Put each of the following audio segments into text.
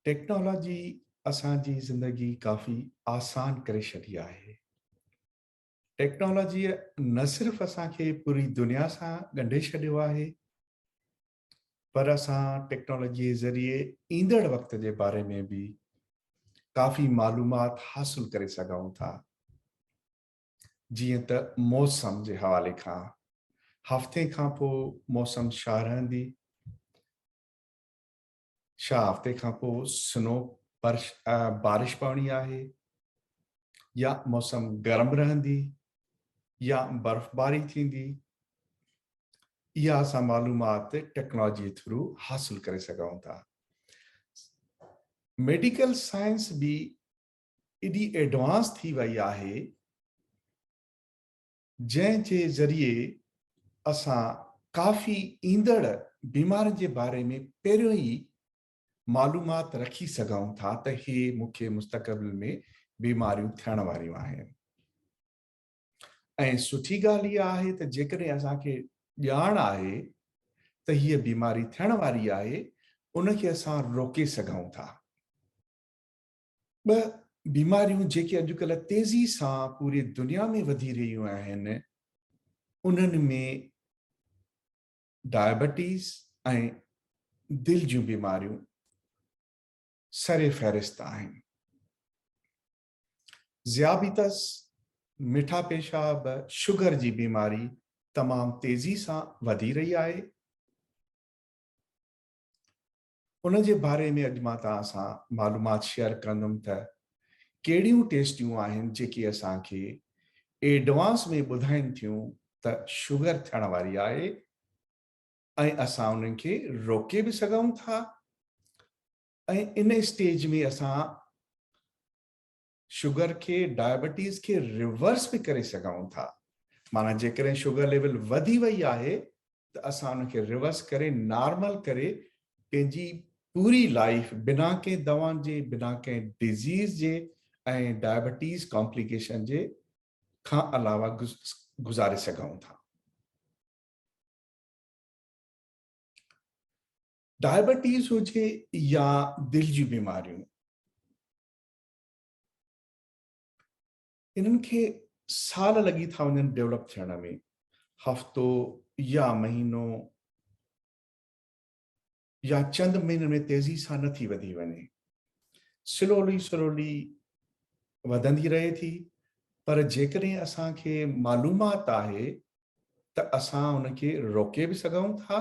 Technology اسان جي زندگي ڪافي آسان ڪري ڇڏي آهي. ٽيڪنالاجيء نه صرف اسان کي پوري دنيا سان ڳنڍي ڇڏيو آهي پر اسان ٽيڪنالاجي ذريعي ايندڙ وقت جي باري ۾ به ڪافي معلومات حاصل ڪري سگهون ٿا جيئن ته موسم جي حوالي کان هفتي کان پوء موسم شاهه رهندي ڇا هفتي کان پوء سنو برش بارش پوڻي آهي يا موسم گرم رهندي يا برفباري ٿيندي اها اسان معلومات ٽيڪنالاجي ٿرو حاصل ڪري سگهون ٿا ميڊيڪل سائنس به ايڏي ايڊوانس ٿي وئي آهي جنهن جي ذريعي اسان ڪافي ايندڙ بيمارين جي باري ۾ پهريون ئي معلومات رکي سگهون ٿا ته هي مون کي مستقبل ۾ بيماريون ٿيڻ واريون آهن ۽ سٺي ڳالهه اها آهي ته جيڪڏهن اسان کي ڄاڻ آهي ته هيء بيماري ٿيڻ واري آهي ان کي اسان روڪي سگهون ٿا ٻه بيماريون جيڪي اڄڪلهه تيزي سان پوري دنيا ۾ وڌي رهيون آهن انهن ۾ ڊائبيٽيز ۽ دل جون بيماريون سر فهرست آهن ذيابيطس مٺا پيشاب شگر جي بيماري تمام تيزي سان وڌي رهي آهي ان جي باري ۾ اڄ مان توهان سان معلومات شيئر ڪندم ته ڪهڙيون ٽيسٽيون آهن جيڪي اسان کي ايڊوانس ۾ ٻڌائين ٿيون ته شگر ٿيڻ واري آهي ۽ اسان انهن کي روڪي به سگهون ٿا ۽ ان اسٽيج ۾ اسان شگر کي ڊائبيٽيز کي ريورس به ڪري سگهون ٿا معنيٰ جيڪڏهن شگر ليول وڌي وئي آهي ته اسان ان کي ريورس ڪري نارمل ڪري پنهنجي پوري لائف بنا ڪنهن دوائن جي بنا ڪنهن ڊزيز جي ۽ ڊائبيٽيز ڪامپليڪيشن جي کان علاوه گذاري سگهون ٿا ڊائبيٽيز هجي يا دل جي بيماريون انهن کي سال لڳي ٿا وڃن ڊيولپ ٿيڻ ۾ هفتو يا مهينو يا چند مهينن ۾ تيزي سان نه ٿي وڌي وڃي سلولي سلولي وڌندي رهي ٿي پر جيڪڏهن اسان کي معلومات آهي ته اسان ان کي روڪي به سگهون ٿا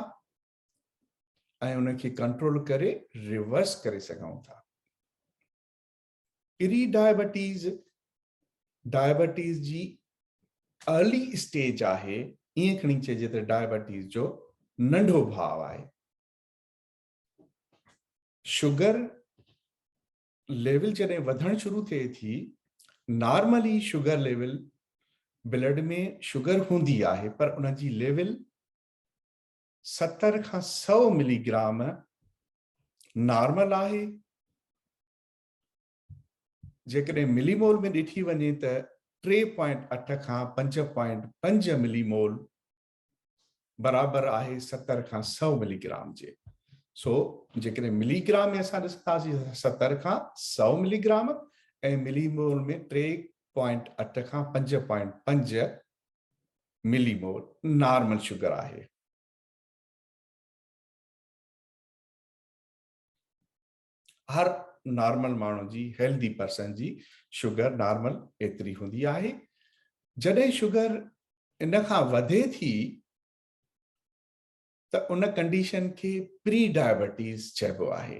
۽ ان کي ڪنٽرول ڪري ريورس ڪري سگهون ٿا پري ڊائبيٽيز ڊائبيٽيز جي ارلي اسٽيج آهي ائين کڻي چئجي ته ڊائبيٽيز جو ننڍو ڀاء آهي شوگر ليول جڏهن وڌڻ شروع ٿئي ٿي normally sugar level blood ۾ sugar هوندي آهي پر ان جي ليول ستر کان سؤ ملي گرام نارمل آهي، جيڪڏهن ملي مول ۾ ڏٺي وڃي ته ٽي پوائنٽ اٺ کان پنج پوائنٽ پنج ملي مول برابر آهي ستر کان سؤ ملي گرام جي سو جيڪڏهن ملي گرام ۾ اسان ڏسنداسين ستر کان سؤ ملي گرام ۽ ملي مول ۾ ٽي پوائنٽ اٺ کان پنج پوائنٽ پنج ملي مور نارمل شگر آهي. هر نارمل ماڻهو جي هيلدي پرسن جي شگر نارمل ايتري هوندي آهي جڏهن شگر ان کان وڌي ٿي ته ان ڪنڊيشن کي پري ڊائبيٽيز چئبو آهي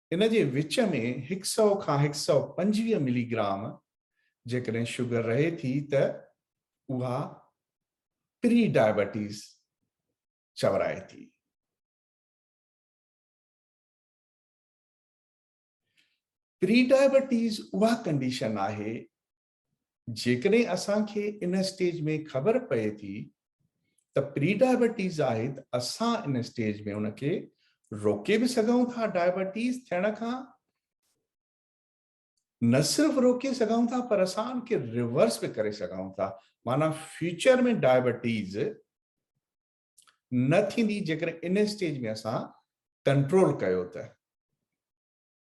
ان جي وچ ۾ هڪ سؤ کان هڪ سؤ پنجويهه ملي گرام جيڪڏهن شگر رهي ٿي ته اها پري ڊائبيٽيز چورائي ٿي. پري ڊائبيٽيز اها ڪنڊيشن آهي جيڪڏهن اسان کي ان اسٽيج ۾ خبر پئي ٿي ته پري ڊائبيٽيز آهي ته اسان ان اسٽيج ۾ ان کي روڪي به سگهون ٿا ڊائبيٽيز ٿيڻ کان نه صرف روڪي سگھون ٿا پر اسان کي ریورس به ڪري سگھون ٿا معنی فيوچر ۾ ڊائبيٽيز نه ٿيندي جيڪڏهن ان اسٽيج ۾ اسان ڪنٽرول ڪيو ته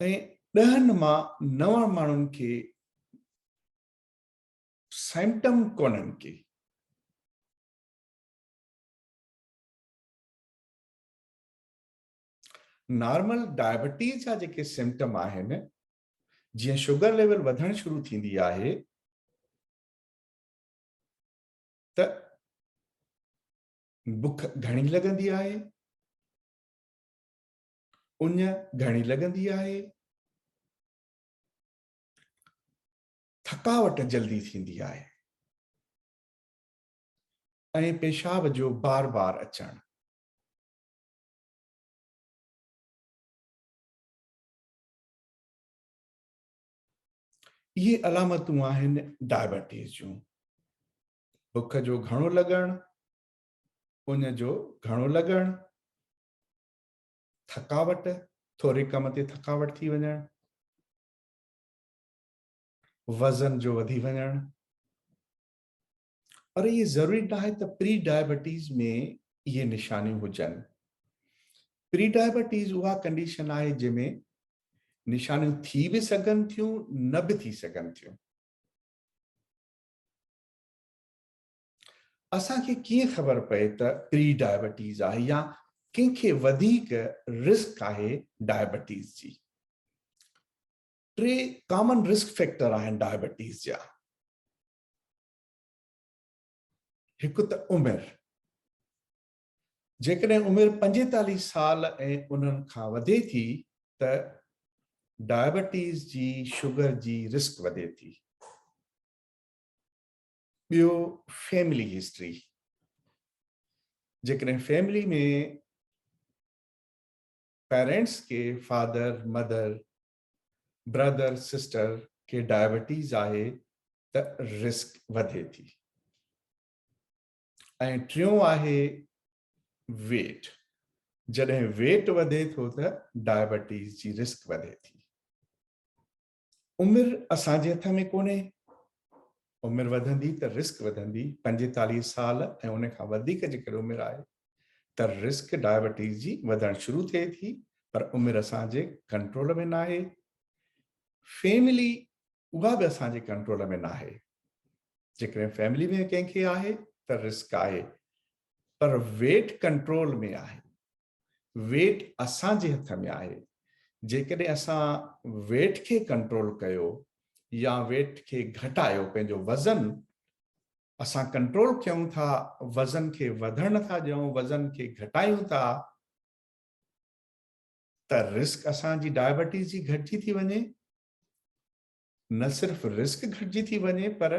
۽ ڏهن مان نو ماڻهن کي سيمٽم ڪونهن ڪي نارمل ڊائبيٽيز جا جيڪي سمٽم آهن جيئن شوگر ليول وڌڻ شروع ٿيندي آهي ته بک گهڻي لڳندي آهي اڃ گهڻي لڳندي آهي؟ ٿڪاوٽ جلدي ٿيندي آهي ۽ پيشاب جو بار بار اچڻ اهي علامتون آهن ڊائبيٽيز جون بک جو گهڻو لڳڻ ان جو گهڻو لڳڻ ٿڪاوٽ ٿوري ڪم تي ٿڪاوٽ ٿي وڃڻ وزن جو وڌي وڃڻ پر اهي ضروري نه آهي ته پري ڊائبيٽيز ۾ اهي نشانيون هجن پري ڊائبيٽيز اها ڪنڊيشن آهي جنهن ۾ نشانيون ٿي به سگهن ٿيون نه به ٿي سگهن ٿيون اسان کي ڪيئن خبر پئي ته پري ڊائبيٽيز آهي يا ڪنهن کي وڌيڪ رسڪ آهي ڊائبيٽيز جي؟ ٽي ڪامن رسڪ فيڪٽر آهن ڊائبيٽيز جا هڪ ته عمر جيڪڏهن عمر پنجيتاليهه سال ۽ انهن کان وڌي ٿي ته ڊائبيٽيز جي شوگر جي رسڪ وڌي ٿي ٻيو فيملي هسٽري جيڪڏهن فيملي ۾ پيرنٽس کي فادر مدر برادر سسٽر کي ڊائبيٽيز آهي ته رسڪ وڌي ٿي ۽ ٽيون آهي ويٽ جڏهن ويٽ وڌي ٿو ته ڊائبيٽيز جي رسڪ وڌي ٿي عمر اسان جي هٿ ۾ ڪونهي، عمر وڌندي ته رسڪ وڌندي، پنجيتاليهه سال ۽ ان کان وڌيڪ جيڪڏهن عمر آهي ته رسڪ ڊائبيٽيز جي وڌڻ شروع ٿئي ٿي پر عمر اسان جي ڪنٽرول ۾ ناهي، فيملي اها به اسان جي ڪنٽرول ۾ ناهي، جيڪڏهن فيملي ۾ ڪنهن کي آهي ته رسڪ آهي پر ويٽ ڪنٽرول ۾ آهي، ويٽ اسان جي هٿ ۾ آهي جيڪڏهن اسان ويٽ کي ڪنٽرول ڪيو يا ويٽ کي گهٽايو پنهنجو وزن اسان ڪنٽرول ڪيون ٿا وزن کي وڌڻ نه ٿا ڏيون وزن کي گهٽايون ٿا ته رسڪ اسان جي ڊائبيٽيز جي گهٽجي ٿي وڃي نه صرف رسڪ گهٽجي ٿي وڃي پر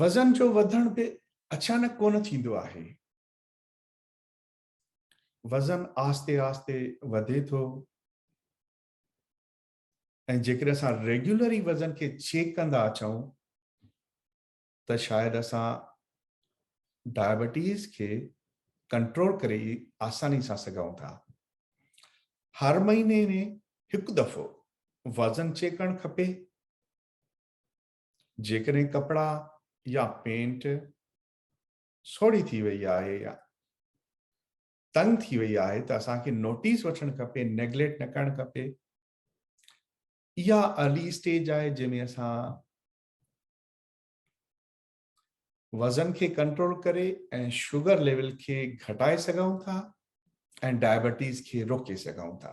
وزن جو وڌڻ به اچانڪ ڪونه ٿيندو آهي. وزن آهستي آهستي وڌي ٿو ۽ جيڪڏهن اسان ريگيولري وزن کي چيڪ ڪندا اچون ته شايد اسان ڊائبيٽيز کي ڪنٽرول ڪري آساني سان سگهون ٿا هر مهيني ۾ هڪ دفعو وزن چيڪ ڪرڻ کپي جيڪڏهن ڪپڙا يا پينٽ سوڙهي ٿي وئي آهي يا تنگ ٿي وئي آهي ته اسان کي نوٽيس وٺڻ کپي نيگليٽ نه ڪرڻ کپي اها ارلي اسٽيج آهي جنهن ۾ اسان وزن کي ڪنٽرول ڪري ۽ شوگر ليول کي گهٽائي سگهون ٿا ۽ ڊائبيٽيز کي روڪي سگهون ٿا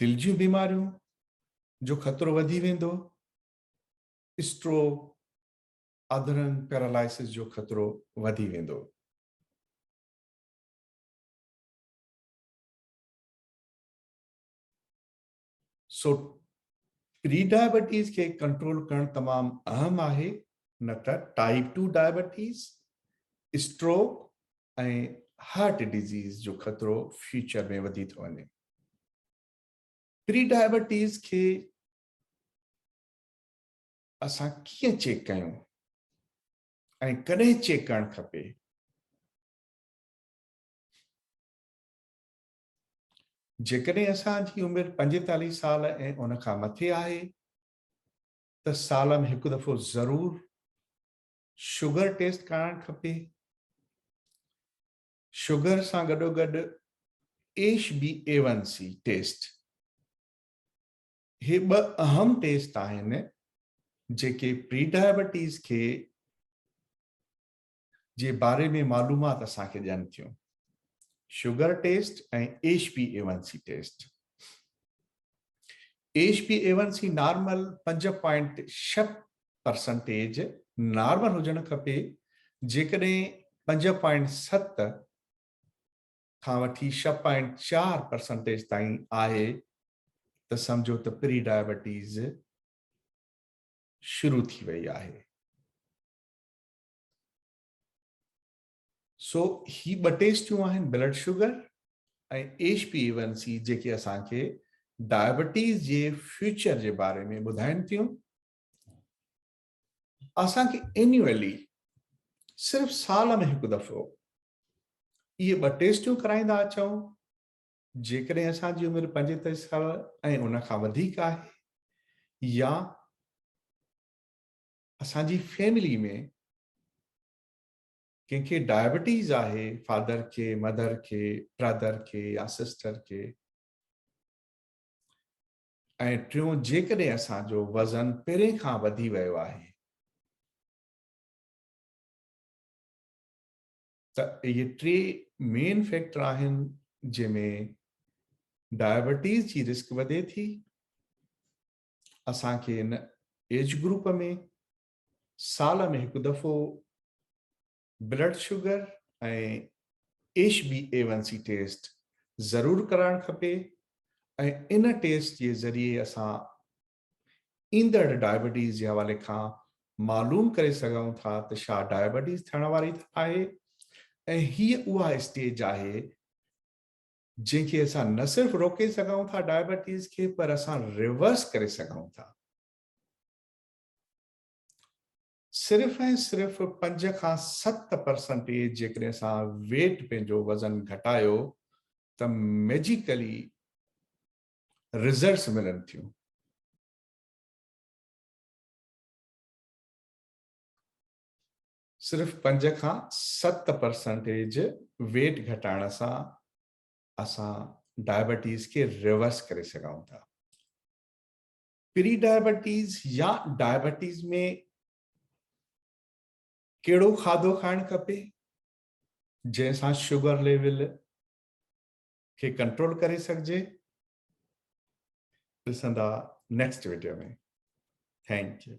دل جون بيماريون جو خطرو وڌي ويندو، اسٽروڪ، اڌرنگ پيرالائسس جو خطرو وڌي ويندو. سو پري ڊائبيٽيز کي ڪنٽرول ڪرڻ تمام اهم آهي نه ته type two diabetes, stroke ۽ heart disease جو خطرو فيوچر ۾ وڌي ٿو وڃي. پري ڊائبيٽيز کي اسان ڪيئن چيڪ ڪيون ۽ ڪڏهن چيڪ ڪرڻ کپي جيڪڏهن اسان جي عمر پنجيتاليهه سال ۽ ان کان مٿي آهي ته سالن هڪ دفعو ضرور شوگر ٽيسٽ ڪرائڻ کپي شگر سان گڏوگڏ H B A one C test هي ٻه اهم ٽيسٽ آهن جيڪي پري ڊائبيٽيز کي جي باري ۾ معلومات اسان کي ڏين ٿيون sugar test ۽ H B A one C test H B A one C normal پنج پوائنٽ شھ پرسنٽيج نارمل هجڻ کپي جيڪڏهن پنج پوائنٽ ست کان وٺي ڇهه پوائنٽ چار پرسنٽيج تائين آهي ته سمجهو ته پري ڊائبيٽيز شروع ٿي وئي آهي سو هي ٻه ٽيسٽيون آهن blood sugar ۽ H P one C جيڪي اسان کي ڊائبيٽيز جي فيوچر جي باري ۾ ٻڌائن ٿيون اسان کي اينيولي صرف سال ۾ هڪ دفعو اهي ٻه ٽيسٽون ڪرائيندا اچو جيڪڏهن اسان جي عمر پنجيتائي سال ۽ ان کان وڌيڪ آهي يا اسان جي فيملي ۾ ڪنهن کي ڊائبيٽيز آهي فادر کي مدر کي برادر کي يا سسٽر کي ۽ ٽيون جيڪڏهن اسان جو وزن پرين کان وڌي ويو آهي ته اهي ٽي مين فيڪٽر آهن جنهن ۾ ڊائبيٽيز جي رسڪ وڌي ٿي اسان کي ان ايج گروپ ۾ سال ۾ هڪ دفعو blood sugar ۽ H B A one C test ضرور ڪرائڻ کپي ۽ ان ٽيسٽ جي ذريعي اسان ايندڙ ڊائبيٽيز جي حوالي کان معلوم ڪري سگهون ٿا ته شا ڊائبيٽيز ٿيڻ واري آهي ۽ هي اها اسٽيج آهي جنهن کي اسان نه صرف روڪي سگهون ٿا ڊائبيٽيز کي پر اسان ريورس ڪري سگهون ٿا صرف ۽ صرف پنج کان ست پرسنٽيج جيڪڏهن اسان ويٽ پنهنجو وزن گهٽايو ته ميجيڪلي رزلٽس ملن ٿيون. صرف پنج کان ست پرسنٽيج ويٽ گهٽائڻ سان اسان ڊائبيٽيز کي ريورس ڪري سگهون ٿا. پري ڊائبيٽيز يا ڊائبيٽيز ۾ ڪهڙو کاڌو کائڻ کپي جنهن سان شوگر ليول کي ڪنٽرول ڪري سگهجي ڏسندا نيڪسٽ ويڊيو ۾ ٿينڪ يو